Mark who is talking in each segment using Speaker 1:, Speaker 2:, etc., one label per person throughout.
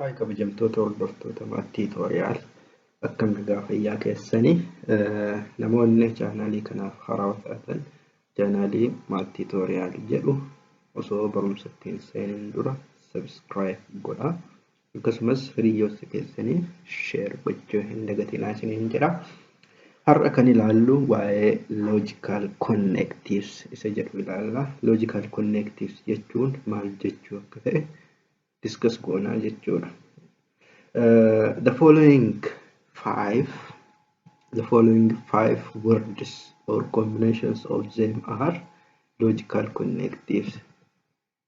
Speaker 1: Haay kabajamtoota hordoftoota maat tiitooriyaal akkam nagaa fayyaa keessanii namoonni chaanaalii kanaaf haaraa taatan chaanaalii maat tiitooriyaal jedhu osoo barumsa ittiin seenuun dura sabiskiraayib godha akkasumas hiriyoota keessaniif sheer gochuu hin dagatinaa isiniin jedha. Har'a kan ilaallu waa'ee logical connectives isa jedhu ilaalla. Logical connectives jechuun maal jechuu akka ta'e discuss goonaa jechuudha. Uh, the following five the following five words or combinations of them are logical connectives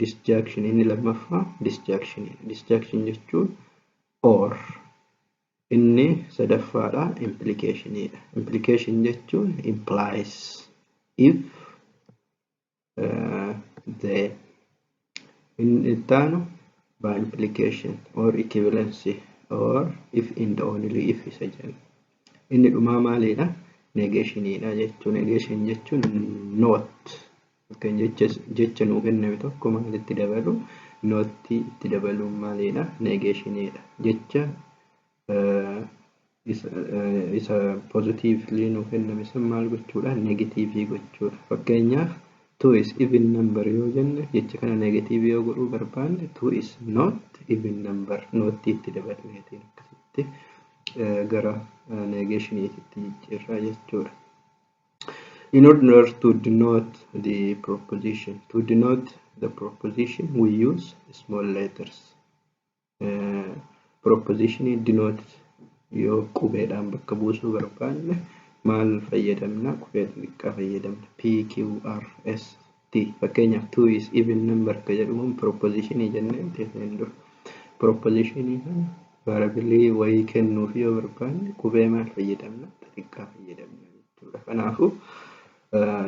Speaker 1: Disjunction inni lammaffaa disjunction disjunction jechuun or inni sadaffaadha implication dha. Implication jechuun implies if uh, the inni ittaanu by implication or equivalency or if and only if isa jenna. Inni dhumaa maaliidha? Negation dha jechuu negation jechuun not Kan jecha jecha nuu kenname tokko maalitti dabalu? Notti itti dabaluun maaliidha? Neegeeshiniidha. Jecha isa pozitiivlii nuu kenname san maal gochuudha? Neegatiivii gochuudha. Fakkeenyaaf two is even number yoo jenne jecha kana neegatiivii yoo godhuu barbaanne two is not even number nootti itti dabalmeetiin akkasitti gara neegeeshiniititti jijjiirraa jechuudha. In order to denote the proposition, to denote the proposition we use small letters. Uh, proposition denote yoo qubeedhaan bakka buusuu barbaanne maal fayyadamna? Qubee xixiqqaa fayyadamna. P, Q, R, S ti. Fakkeenyaaf two is even number ka jedhu kun proposition jennee jenneen dura. Proposition kana variable wayii kennuuf yoo barbaanne qubee maal fayyadamna? Xixiqqaa fayyadamna jechuudha. Kanaafuu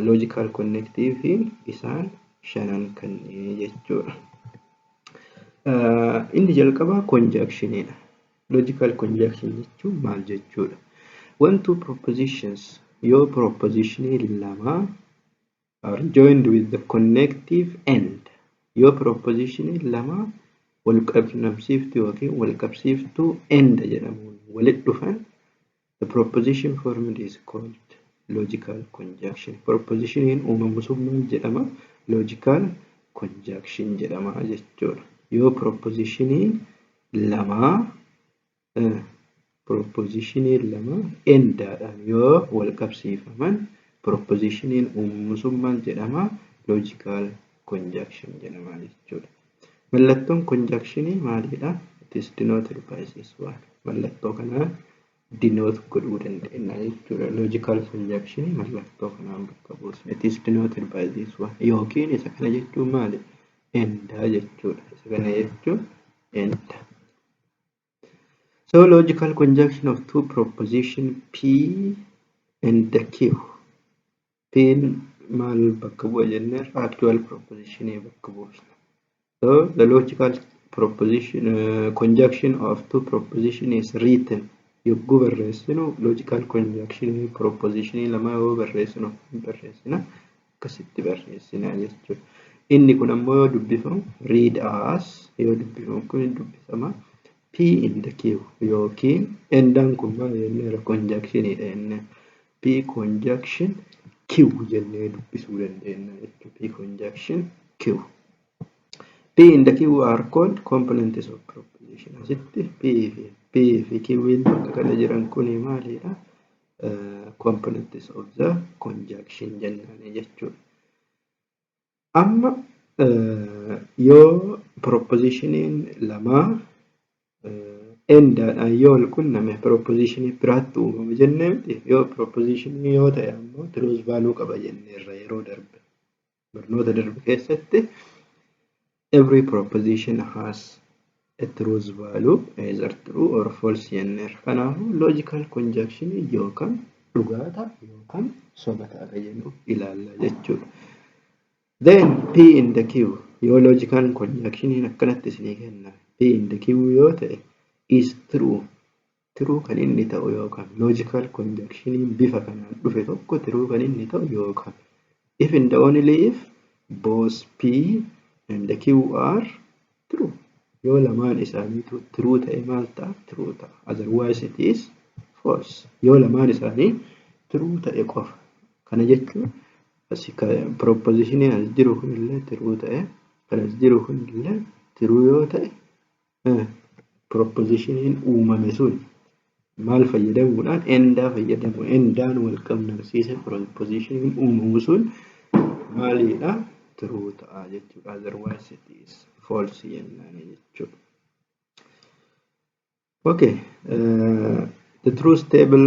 Speaker 1: logical connective isaan shanan kanneen jechuudha. Inni jalqabaa conjunction dha. Logical conjunction jechuun maal jechuudha? One two propositions yoo proposition lama are joined with the connective end yoo proposition lama wal qunnamsiiftu yookiin wal qabsiiftuu end jedhamuun walit dhufan the proposition formed is called logical conjunction propositioniin uumamu sun maal jedhama logical conjunction jedhama jechuudha yoo propositionii lamaa Pirooppoziishiniin lama endaadhaan yoo wal qabsiifaman pirooppoziishiniin uumamuu sun maal jedhama? Loojikaal konjaakshin jedhama jechuudha. Mallattoon konjaakshinii maalidha? It is denoted by this one. Mallattoo kanaan denote godhuu dandeenya jechuudha. Loojikaal konjaakshinii mallattoo kanaan bakka buusna. It is denoted by this one. Yookiin isa kana jechuun maali? Endaa jechuudha. Isa kana jechuun endaa. So logical conjunction of two proposition P and Q. P maal bakka bu'a jennee actual proposition bakka buufna. So the logical proposition uh, conjunction of two proposition is written. Yogguu barreessinu logical conjunction proposition lama yoo barreessinu barreessina. akkasitti barreessina jechuudha. Inni kun ammoo yoo dubbifamu read as yoo dubbifamu kun hin dubbifama. P in the Q yookiin endaan kun maal jenneera konjakshiniidha inni. P conjunction Q jennee dubbisuu dandeenya jechuudha. P conjunction Q. P in the Q are called components of proposition. Asitti P fi P fi Q bakka kana jiran kuni maalidha? components of the conjunction jennaan jechuudha. Amma yoo propositionin lamaa endaadhaan yoo wal qunname propositionii biraatti uumama jennee miti yoo propositionii yoo ta'e ammoo truth value qaba jenneerra yeroo darbe. Barnoota darbe keessatti every proposition has a truth value either true or false jenneerra. Kanaafuu logical conjunction yookaan dhugaa ta'a yookaan soba ta'a kan jennu ilaalla jechuudha. Then P in the Q yoo logical conjunction akkanatti isinii kenname P in the Q yoo ta'e is true Tiruu kan inni ta'u yookaan logical conjunction bifa kanaan dhufe tokko tiruu kan inni ta'u yookaan if and only if both P and Q are true. Yoo lamaan isaaniitu tiruu ta'e maal ta'a? Tiruu ta'a. Otherwise it is false. Yoo lamaan isaanii tiruu ta'e qofa. Kana jechuun asi propositionii as jiru kunillee tiruu ta'e kan as jiru kunillee tiruu yoo ta'e Eh, proposition uumame sun maal fayyadamuudhaan endaa fayyadamu endaan wal qabnamsiise proposition uumamu sun maaliidha true ta'a jechuudha otherwise it is false jennaan jechuudha okay uh, the truth table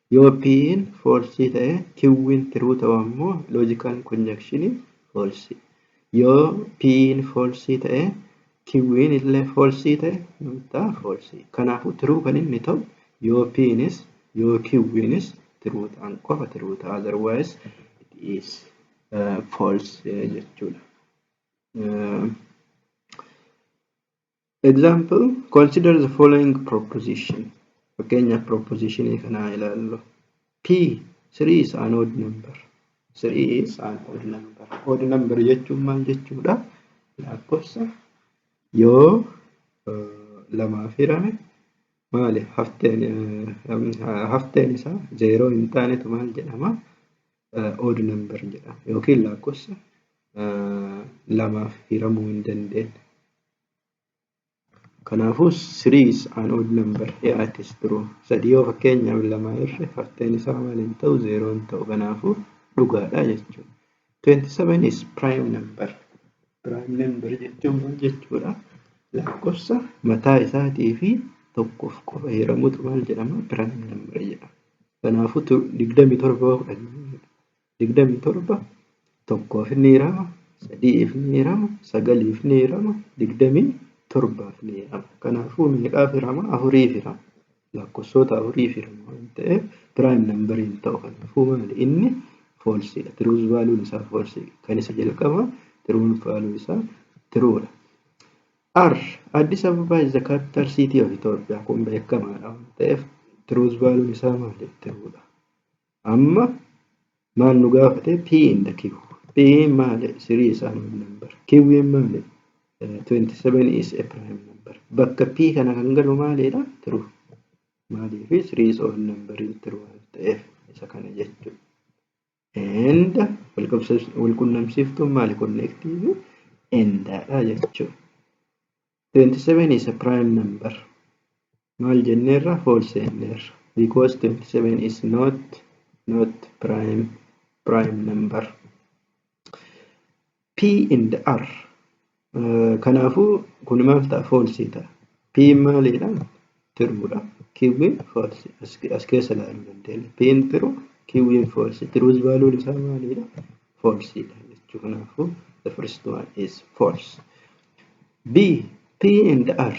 Speaker 1: Yoo P'n false ta'e Q'n true ta'u ammoo logical conjunction false. Yoo P'n false ta'e Q'n illee false ta'e maal ta'a false. Kanaafuu true kan inni ta'u yoo P'nis yoo Q'nis true ta'an qofa true ta'a otherwise it is uh, false jechuudha. Uh, Example, Consider the following proposition. Fakkeenyaaf proposition kana haa ilaallu. P, 3 is an odd number. 3 is an odd number. Odd number jechuun maal jechuudha? Lakkoofsa yoo eh, lamaaf hirame maali hafteen eh, hafteen isaa zeeroo hin taanetu maal jedhama? odd number jedhama yookiin lakkoofsa lamaaf hiramuu hin dandeenye. Kanaafuu 3 is an odd number here it is true. Sadii yoo fakkeenyaaf lama irra hafteen isaa maal hin ta'u zeeroo hin ta'u kanaafuu dhugaadha jechuudha. 27 is prime number. Prime number jechuun maal jechuudha? Lakkoofsa mataa isaatii fi tokkoof qofa hiramutu maal jedhama? Prime number jedhama. Kanaafuu tu- 27 yoo fudhanne 27 tokkoof ni hirama, sadi'iif ni hirama, sagaliif ni hirama, 27f ni hirama. Kanaafuu meeqaaf hirama? Afuriif hirama. Lakkossoota afurii fi lama waan ta'eef prime number hin ta'u kan dhufuu maali inni foolsiidha tiruus vaaluun isaa foolsii kan isa jalqaba tiruun vaaluu isaa tiruudha. R Addis Ababa is the capital city of Ethiopia kun beekamaadha waan ta'eef tiruus vaaluun isaa maali tiruudha. Amma maal nu gaafate P in the Q. P maali? 3 is an odd number. Q maali? Eh, 27 is a prime number. Bakka P kana kan galu maaliidha? True. Maaliif 3 is odd number in true waan ta'eef isa kana jechuudha. And walqabsiis- walqunnamsiiftuun maali? Connective endaadha jechuudha. 27 is a prime number maal jenneerra false jenneerra because 27 is not not prime prime number p and r uh, kanaafuu kun maal ta'a false ta'a p maaliidha tiruudha. Kiwwiin foolsi as keessa ilaaluu dandeenya. Piin tiru kiwwiin foolsi tiruus vaaluun isaa maaliidha? Foolsiidha jechuu kanaafuu the first one is false. B P and R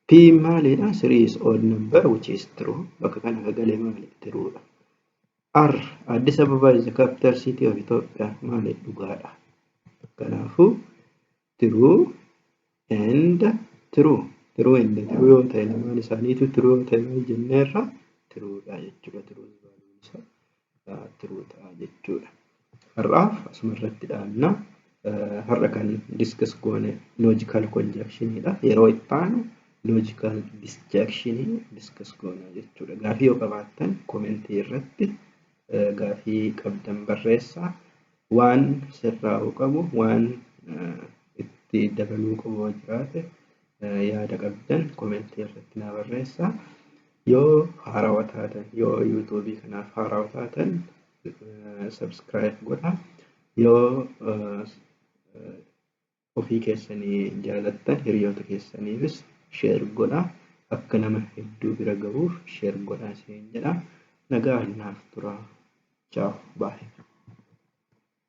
Speaker 1: P maaliidha? Three is odd number which is true. Bakka kana akka galee maali? Tiruudha. R Addis Ababa is the capital city of Ethiopia maali? Dhugaadha. Kanaafuu True and true. True and true yoo ta'e lamaan isaaniitu true yoo ta'e maal jenneerra? True dha jechuudha. True valuun isaa ah, true ta'a jechuudha. Har'aaf asuma irratti dhaabna. Eh, Har'a kan discuss goone logical conjunction dha. Yeroo itti aanu logical disjunction discuss goona jechuudha. Gaafii yoo qabaattan komentii irratti eh, gaafii qabdan barreessaa. Waan sirraa'uu qabu, waan itti dabaluu qabu yoo jiraate yaada qabdan komentii irratti naa barreessaa. Yoo haarawa taatan, yoo yuutuubii kanaaf haarawa taatan subscribe godhaa. Yoo ofii keessanii jaalattan hiriyoota keessaniifis share godhaa akka nama hedduu bira gahuuf share godhaa isiniin jedha nagaan naaf turaa ciao bye.